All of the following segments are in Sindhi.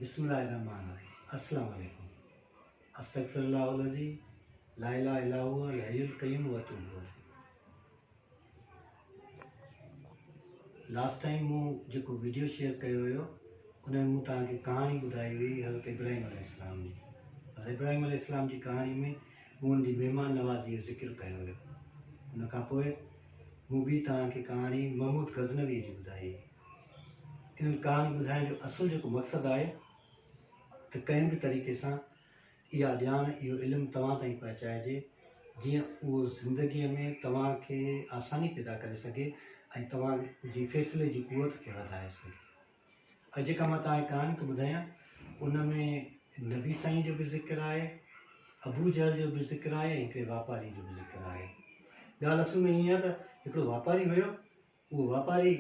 بسم الله الرحمٰن الرحيم السلام عليڪم استغفر الله الذي لا اله الا هو الحي القيوم واتوب الیه لاسٽ ٽائم مون جيڪو ويڊيو شيئر ڪيو هيو ان ۾ مون توهان کي ڪهاڻي ٻڌائي هئي حضرت ابراهيم عليه السلام جي حضرت ابراهيم عليه السلام جي ڪهاڻي ۾ مون ان جي مهمان نوازي جو ذڪر ڪيو هيو ان کان پوء مون ٻي توهان کي ڪهاڻي محمود غزنوي جي ٻڌائي هئي انهن ڪهاڻي ٻڌائڻ جو اصل جيڪو مقصد آهي ته ڪنهن به طريقي سان اها ڄاڻ اهو علم توهان تائين پهچائجي جيئن اهو زندگيء ۾ توهان کي آساني پيدا ڪري سگهي ۽ توهان جي فيصلي جي قوت کي وڌائي سگهي ۽ جيڪا مان توهان کي ڪهاڻي ٿو ٻڌايان ان ۾ نبي سائين جو به ذڪر آهي ابو جهل جو به ذڪر آهي ۽ هڪڙي واپاري جو به ذڪر آهي ڳالهه اصل ۾ ائين آهي ته هڪڙو واپاري هيو اهو واپاري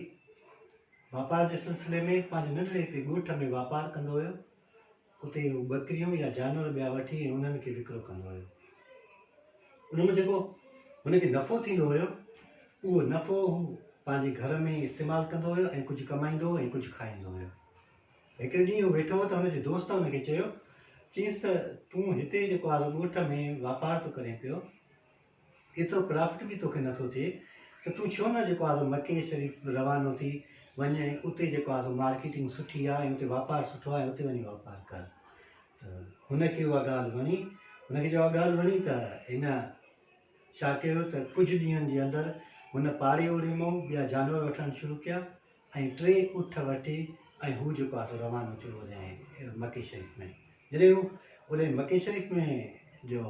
واپار جي سلسلي ۾ پنهنجي ننڍڙي هڪڙي ڳوٺ ۾ واپار ڪندو هيو. اتي هو ٻڪريون يا جانور ٻيا وٺي ۽ انهن کي وڪرو ڪندو هيو. ان مان جيڪو هن کي نفعو ٿيندو هيو، اهو نفعو هو پنهنجي گهر ۾ استعمال ڪندو هيو ۽ ڪجهه ڪمائيندو هو ۽ ڪجهه کائيندو هيو. هڪڙي ڏينهن هو ويٺو هو ته هن جي دوست هن کي چيو، چيس ته تون هتي جيڪو آزو ڳوٺ ۾ واپار ٿو ڪرين پيو، ايترو پرافٽ به توکي نٿو ٿئي ته تون ڇو نه جيڪو آسو مڪي شريف روانو ٿي وڃ ۽ اتي جيڪو آسو مارڪيٽنگ سٺي آ ۽ اتي واپار سٺو آ ۽ اتي وڃي واپار ڪر ته هن کي اها ڳالهه وڻي هن کي جواب ڳالهه وڻي ته هن ڇا ڪيو ته ڪجهه ڏينهن جي اندر هن پاڙي اوريمو ٻيا جانور وٺڻ شروع ڪيا ۽ ٽي اٺ وٺي ۽ هو جيڪو آهي سو روانو ٿيو اوڏانهن مڪي شريف ۾ جڏهن هو اوڏانهن مڪي شريف ۾ جو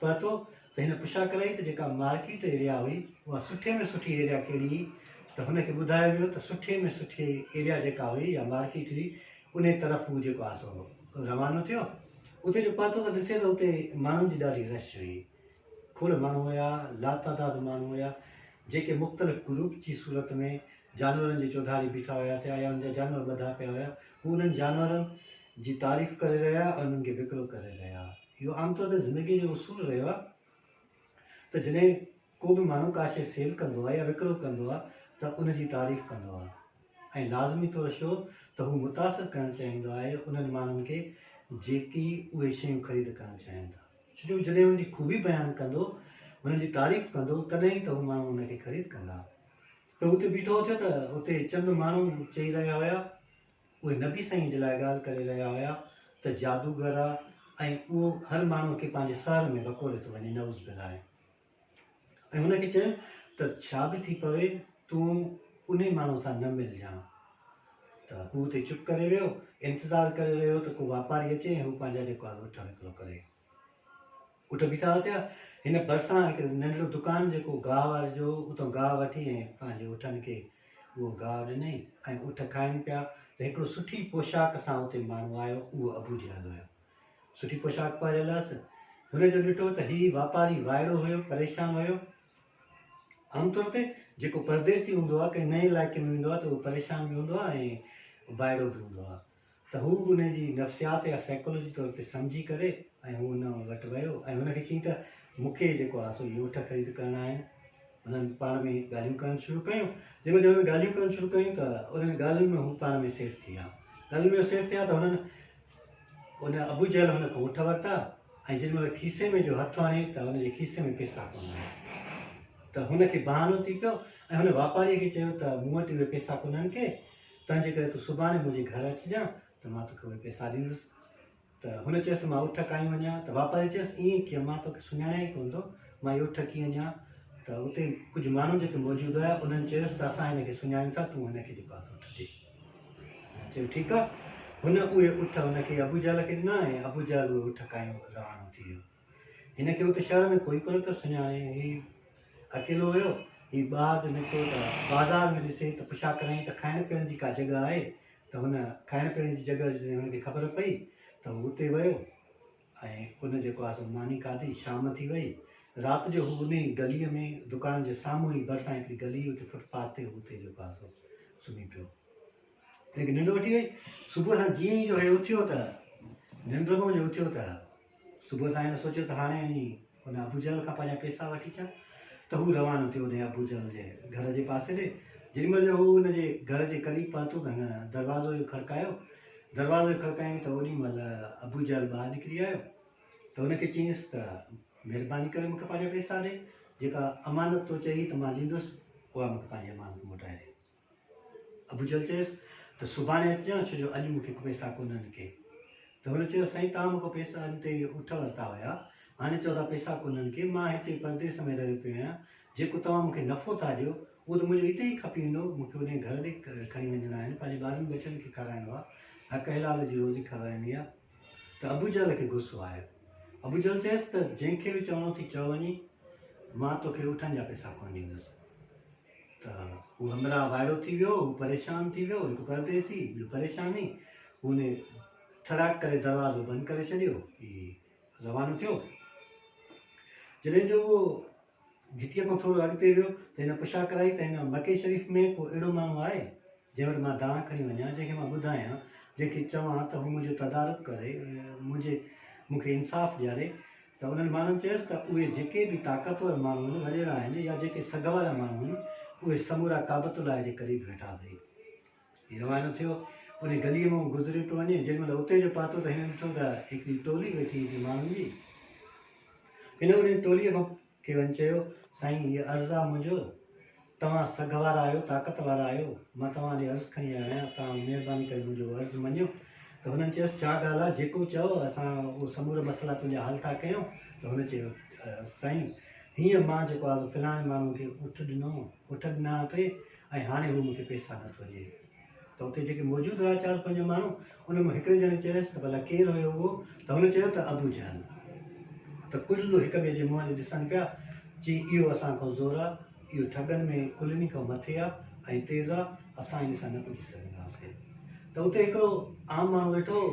پهتو ته هن پڇا ڪرائي ته جيڪا مارڪيٽ ايريا هئي اها سٺي ۾ سٺي ايريا ڪهڙي هئي ته هن کي ٻڌايو ويو ته سٺي ۾ سٺي ايريا جيڪا هئي يا مارڪيٽ هئي ان طرف هو جيڪو آهي سو روانو ٿيو اتي جو پهتو ته ڏسي ته اتي ماڻهن جي ڏاڍي رش هئي کل ماڻهو هيا، لاتعداد ماڻهو هيا، جيڪي مختلف گروپ جي صورت ۾ جانورن جي چوڌاري بيٺا هيا ٿيا يا انهن جا جانور ٻڌا پيا هيا. هو انهن جانورن جي تعريف ڪري رهيا ۽ انهن کي وڪرو ڪري رهيا. اهو عام طور تي زندگيء جو اصول رهيو آهي ته جڏهن ڪو به ماڻهو ڪا شيء سيل ڪندو آهي يا وڪرو ڪندو آهي ته ان جي تعريف ڪندو آهي ۽ لازمي طور شو ته هو متاثر ڪرڻ چاهيندو آهي انهن ماڻهن کي جيڪي اهي شيون خريد ڪرڻ چاهين ٿا. جو جڏهن ان جي خوبي بيان ڪندو، ان جي تعريف ڪندو، تڏهن ئي ته هو ماڻهو ان کي خريد ڪندا. ته هو اتي بيٺو اٿيو ته اتي چند ماڻهو چئي رهيا هيا، اهي نبي سائينء جي لاء ڳالهه ڪري رهيا هيا ته جادوگر آ ۽ اهو هر ماڻهوء کي پنهنجي سحر ۾ وڪوڙي ٿو وڃي نعوذ بالله. ۽ هن کي چيم ته ڇا به ٿي پوي تون انهي ماڻهوء سان نه ملجان. ته هو اتي چپ ڪري ويو، انتظار ڪري رهيو ته ڪو واپاري اچي ۽ هو پنهنجا جيڪو آهي اٺ وڪرو ڪري. اٺ بيٺا اٿيا، هن ڀرسان هڪ ننڍڙو دڪان جيڪو گاهه واري جو هو، اتان گاهه وٺي ۽ پنهنجي اٺن کي اهو گاهه ڏنئي ۽ اٺ کائن پيا ته هڪڙو سٺي پوشاڪ سان اتي ماڻهو آيو، اهو ابوجهل هيو. سٺي پوشاڪ پهريل هئس. هن جو ڏٺو ته هي واپاري وائڙو هيو، پريشان هيو. عام طور تي جيڪو پرديسي هوندو آهي، ڪنهن نئين علائقي ۾ ويندو آهي ته اهو پريشان به هوندو آهي ۽ وائڙو به هوندو آهي. ته هو به ان جي نفسيات يا سائيڪالوجي طور تي سمجهي ڪري ۽ هو هن وٽ ويو ۽ هن کي چيائين ته مون کي جيڪو آهي سو يوٺ خريد ڪرڻا آهن. هنن پاڻ ۾ ڳالهيون ڪرڻ شروع ڪيون. جنهن مهل هنن ڳالهيون ڪرڻ شروع ڪيون ته انهن ڳالهين ۾ هو پاڻ ۾ سيٽ ٿي ويا. ڳالهين ۾ هو سيٽ ٿيا ته هنن ان ابوجهل هن کان اٺ ورتا ۽ جن مهل کيسي ۾ جو هٿ آڻي ته هن جي کيسي ۾ پيسا ڪونه آهن ته هن کي بهانو ٿي پيو ۽ هن واپاري کي چيو ته مون وٽ اهي پيسا ڪونهن ڪي تنهنجي ڪري تون سڀاڻي منهنجي گهر اچجان ته مان توکي اهي پيسا ڏيندس ته هن چيس مان اٺ کائي وڃان ته واپاري چيس ائين ڪيئن مان توکي سڃاڻيان ئي ڪونه ٿو مان اهي اٺ ڪيئن ڏيان ته اتي ڪجهه ماڻهو جيڪي موجود هيا انهن چيس ته اسان هن کي سڃاڻيون ٿا تون هن کي جيڪو اٺ ڏي چيو ٺيڪ آ. هن اهي اٺ هن کي ابو جهل کي ڏنا ۽ ابو جهل اهي اٺ کنيو روانو ٿي ويو. هن کي ات شهر ۾ ڪوئي ڪونه پيو سڃاڻي. هي اڪيلو ويو. هي ٻاهر نڪتو ته بازار ۾ ڏسي ته پڇا ڪرائين ته کائڻ پيئڻ جي ڪا جڳهه آهي ته هن کائڻ پيئڻ جي جڳهه جڏهن هن کي خبر پئي ته هو اتي ويو. ۽ ان جيڪو آهي سو ماني کاڌي، شام ٿي وئي. رات جو هو انهي گليء ۾ دڪان جي سامهون ئي ڀرسان هڪڙي گلي هئي اتي فٽ پاٿ تي هو اتي جيڪو آهي سو سمهي پيو. ان کي ننڊ وٺي وئي. صبح سان جيئن ئي جو هي اٿيو ته ننڊ مان جو اٿيو ته صبح سان هن سوچيو ته هاڻي اڃي هن ابو جهل کان پنهنجا پيسا وٺي ٿيا ته هو روانو ٿيو انهيء ابو جهل جي گهر جي پاسي ڏي. جيڏي مهل جو هو هن جي گهر جي قريب پهتو ته هن دروازو جو کڙڪايو. دروازو جو کڙڪايائين ته اوڏي مهل ابو جهل ٻاهر نڪري آيو ته هن کي چيائينس ته مهرباني ڪري مون کي پنهنجا پيسا ڏي. جيڪا امانت تو چئي هئي ته مان ڏيندس، اها مون کي پنهنجي امانت موٽائي ڏي. ابوجهل چيس ته سڀاڻي اچجان ڇو جو اڄ مون کي پيسا ڪونهن ڪي ته هن چيو سائين توهان مون کان پيسا ان تي اٺ ورتا هيا هاڻي چئو ٿا پيسا ڪونهن ڪي مان هتي پرديس ۾ رهيو پيو آهيان جيڪو توهان مون کي نفعو ٿا ڏيو اهو ته منهنجو هتي ئي کپي ويندو مون کي انهي گهر ڏي کڻي وڃڻا آهن پنهنجي ٻارن ٻچن کي کارائڻو آهي حق حلال جي روزي کارائڻي آهي ته ابو جهل کي غصو آيو. ابو جهل چيس ته جنهن کي به چوڻو اٿئي چئو وڃي، مان توکي اٺن جا پئسا ڪونه ڏيندس. ته هو همراهه وائڙو ٿي ويو، هو پريشان ٿي ويو، هڪ پرديسي، ٻيو پريشاني، هن ٿڙاڪ ڪري دروازو بند ڪري ڇڏيو ۽ روانو ٿيو. جڏهن جو اهو گهٽيء کان ٿورو اڳتي ويو ته هن پڇا ڪرائي ته هن مڪي شريف ۾ ڪو اهڙو ماڻهو آهي، جنهن وٽ مان دانهن کڻي وڃان، جنهن کي مان ٻڌايان، جنهن کي چوان ته هو منهنجو تدارڪ ڪري، منهنجي مون کي انصاف ڏياري؟ ته انهن ماڻهن چيس ته اهي جيڪي به طاقتور ماڻهو آهن، وڏيرا آهن يا جيڪي سگهه وارا ماڻهو آهن، اهي سمورا ڪعبة الله جي قريب ويٺا اٿئي. هي روانو ٿيو. انهيء گليء مان گذريو پيو وڃي. جيڏي مهل اتي جو پهتو ته هن ڏٺو ته هڪڙي ٽولي ويٺي هئي ماڻهن جي. هن انهيء ٽوليء کان کي وڃي چيو، سائين هيء عرض آ منهنجو، توهان سگهه وارا آهيو، طاقت وارا آهيو، مان توهان ڏي عرض کڻي آيو آهيان، توهان مهرباني ڪري منهنجو عرض مڃيو. ته هنن چيس، ڇا ڳالهه آ، جيڪو چئو، اسان اهو سمورا مسئلا تنهنجا حل ٿا ڪيون. ته هن چيو، سائين هينئر مان جيڪو آ سو فلاڻي ماڻهوء کي اٺ ڏنو، اٺ ڏنا ٽي، ۽ هاڻي هو مون کي پيسا نه ٿو ڏئي ته اتي جيڪي موجود هيا چار پنج ماڻهو ان مان هڪڙي ڄڻي چيس ته ڀلا ڪير هيو اهو ته هن چيو ته ابو جهل ته ڪل هڪ ٻئي جي منهن ڏي ڏسن پيا چي اهو اسان کان زور آ اهو ٺڳن ۾ ڪلني کان مٿي آ ۽ تيز آ اسان ان سان نه پڄي سگهنداسين ته اتي هڪڙو عام ماڻهو ويٺو هو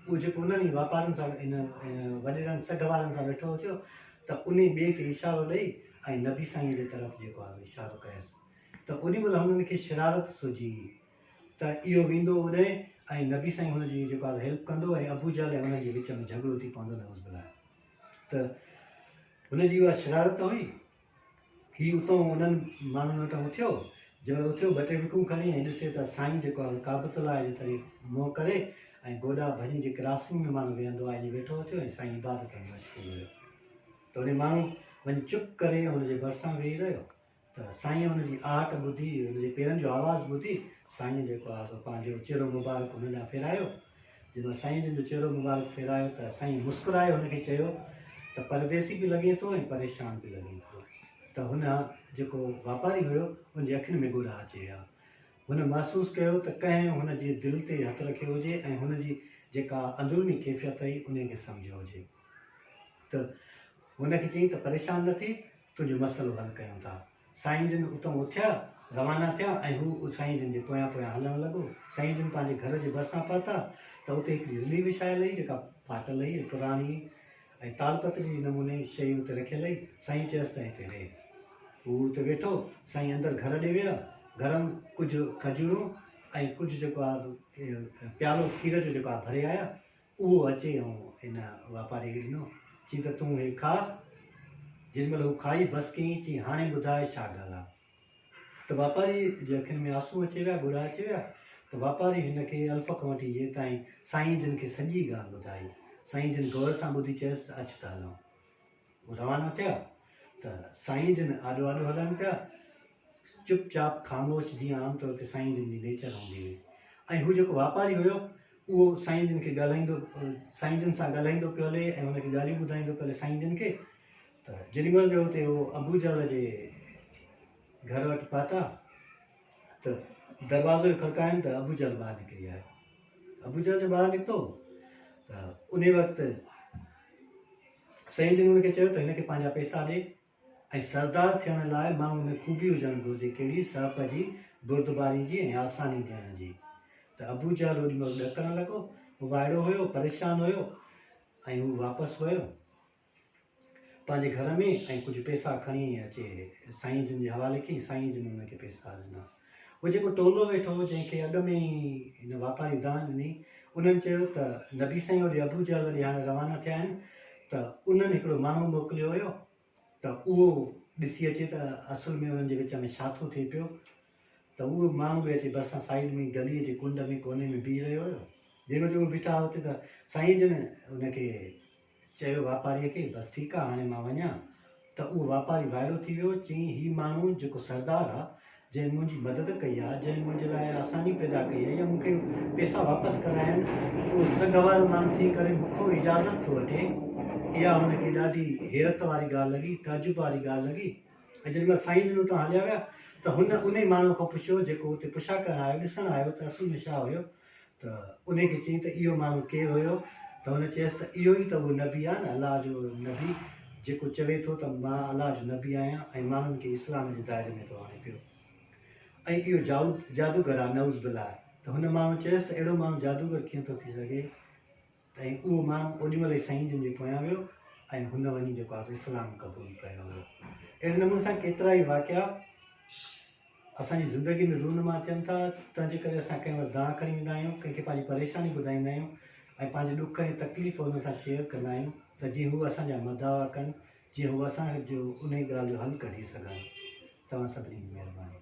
اهو جيڪو انهن ئي واپارين سان ان وڏيرن سگهه وارن سان ويٺو هو ٿيو ته انهي ٻئي کي اشارو ڏئي ۽ نبي سائين جي طرف جيڪو آ اشارو ڪيس ته اوڏي مھل ھنن کي شرارت سجھي ته اھو ويندو اوڏئين ۽ نبي سائين ھن جي جيڪو آھي ھيلپ ڪندو ۽ ابو جھل ۽ انھن جي وچ ۾ جھڳڙو ٿي پوندو نعوذ بالله ته ھن جي اھا شرارت ھئي ھي اتئون انھن ماڻھن وٽان اٿيو جنھن مھل اٿيو ٻه ٽي وڪون کڻي ۽ ڏسي ته سائين جيڪو آھي ڪعبت الله جي طرف منھن ڪري ۽ گوڏا ڀڃي جي ڪراسنگ ۾ ماڻھو ويھندو آھي ائين ويٺو اٿيو ۽ سائين عبادت ۾ مشغول ھيو ته انھي ماڻھو وڃي چپ ڪري ھن جي ڀرسان ويھي رھيو ته سائينء ان جي آهٽ ٻڌي، ان جي پيرن جو آواز ٻڌي، سائينء جيڪو آهي سو پنهنجو چهرو مبارڪ هن ڏانهن ڦيرايو. جنهن مهل سائينء جن جو چهرو مبارڪ ڦيرايو ته سائينء مسڪرائي هن کي چيو ته پرديسي به لڳين ٿو ۽ پريشان به لڳين ٿو. ته هن جيڪو واپاري هيو، ان جي اکين ۾ ڳوڙها اچي ويا. هن محسوس ڪيو ته ڪنهن هن جي دل تي هٿ رکيو هجي ۽ هن جي جيڪا اندروني ڪيفيت هئي، انهيء کي سمجهيو هجي. ته هن کي چيائين ته پريشان نه ٿي، تنهنجو مسئلو حل ڪيون ٿا. سائين جن اتئون اٿيا، روانا ٿيا ۽ هو سائين جن جي پويان پويان هلڻ لڳو. سائين جن پنهنجي گهر جي ڀرسان پهتا ته اتي هڪڙي رلي وڇايل هئي جيڪا ڦاٽل هئي ۽ پراڻي هئي ۽ تالپتري جي نموني شيء اتي رکيل هئي. سائين چيس ته هتي رهه. هو اتي ويٺو. سائين اندر گهر ڏي ويا. گهر م ڪجهه کجورون ۽ ڪجهه جيڪو آ پيالو کير جو جيڪو آ ڀري آيا. اهو اچي ۽ ان واپاريء کي ڏنو، چيائين ته تون هي کاء. جيڏي مهل هو کائي بس ڪيائين، چيائين هاڻي ٻڌاء ڇا ڳالهه آ؟ ته واپاريء جي اکين ۾ آنسون اچي ويا، ڳڙا اچي ويا ته واپاري هن کي الف کان وٺي يي تائين سائين جن کي سڄي ڳالهه ٻڌائي. سائين جن غور سان ٻڌي چيس ته اچ ته هلون. هو روانا ٿيا ته سائين جن آڏو آڏو هلائن پيا، چپ چاپ خاموش جيئن عام طور تي سائين جن جي نيچر هوندي هئي ۽ هو جيڪو واپاري هيو اهو سائين جن کي ڳالهائيندو سائين جن سان ڳالهائيندو پيو هلي ۽ هن کي ڳالهيون ٻڌائيندو پيو هلي سائين جن کي ته جيڏي مهل جو هتي هو ابو جهل جي گهر وٽ پهتا ته دروازو کڙڪائين ته ابو جهل ٻاهر نڪري آيو ابو جهل جو ٻاهر نڪتو ته ان وقت سائين جن هن کي چيو ته هن کي پنهنجا پئسا ڏي ۽ سردار ٿيڻ لاء ماڻهوء ۾ خوبي هجڻ گهرجي ڪهڙي، سهپ جي، بردباري جي ۽ آساني ڏيڻ جي. ته ابو جهل اوڏي مهل ڏڪڻ لڳو، هو وائڙو هيو، پريشان هيو ۽ هو واپس ويو پنهنجي گهر ۾ ۽ ڪجهه پئسا کڻي اچي سائين جن جي حوالي ڪيائين، سائين جن هن کي پئسا ڏنا. هو جيڪو ٽولو ويٺو هو جنهن کي اڳ ۾ ئي هن واپاري دانهن ڏني انهن چيو ته نبي سائين هوڏي ابوجهل ڏي هاڻي روانا ٿيا آهن ته انهن هڪڙو ماڻهو موڪليو هيو ته اهو ڏسي اچي ته اصل ۾ انهن جي وچ ۾ ڇا ٿو ٿئي پيو ته اهو ماڻهو به اچي ڀرسان سائيڊ ۾ گلي جي ڪنڊ ۾ ڪوني ۾ بيهي رهيو هيو جنهن وقت اهي بيٺا هئا اتي ته سائين جن ان کي چيو واپاريء کي، بس ٺيڪ آ، هاڻي مان وڃان؟ ته اهو واپاري وائڙو ٿي ويو، چيائين، هي ماڻهو جيڪو سردار آ، جنهن منهنجي مدد ڪئي آ، جنهن منهنجي لاء آساني پيدا ڪئي آ يا مون کي پيسا واپس ڪرايائين، اهو سگهه وارو ماڻهو ٿي ڪري مون کان اجازت ٿو وٺي. اها هن کي ڏاڍي حيرت واري ڳالهه لڳي، تعجب واري ڳالهه لڳي ۽ جيڏي مهل سائين جن اتان هليا ويا ته هن انهي ماڻهوء کان پڇيو، جيڪو اتي پڇا ڪرڻ آيو، ڏسڻ آيو ته اصل ۾ ڇا هيو؟ ته انهي کي چئين ته اهو ماڻهو ڪير هيو؟ ته هن چيس ته اهو ئي ته اهو نبي آهي نه الله جو نبي جيڪو چوي ٿو ته مان الله جو نبي آهيان ۽ ماڻهن کي اسلام جي دائري ۾ ٿو آڻي پيو ۽ اهو جادوگر آهي نعوذ بالله ته هن ماڻهو چيس ته اهڙو ماڻهو جادوگر ڪيئن ٿو ٿي سگهي؟ تئين اهو ماڻهو اوڏي مهل ئي سائين جن جي پويان ويو ۽ هن وڃي جيڪو آسي اسلام قبول ڪيو هو. اهڙي نموني سان ڪيترا ئي واقعا اسان جي زندگي ۾ رونما ٿين ٿا، تنهن جي ڪري اسان ڪنهن وٽ دانهن کڻي ويندا آهيون، ڪنهن کي پنهنجي پريشاني ٻڌائيندا آهيون ۽ پنهنجي ڏک ۽ تڪليف هن سان شيئر ڪندا آهيون ته جيئن هو اسان جا مداوا ڪن، جيئن هو اسان جو انهي ڳالهه جو حل ڪڍي سگهن. توهان سڀني جي مهرباني.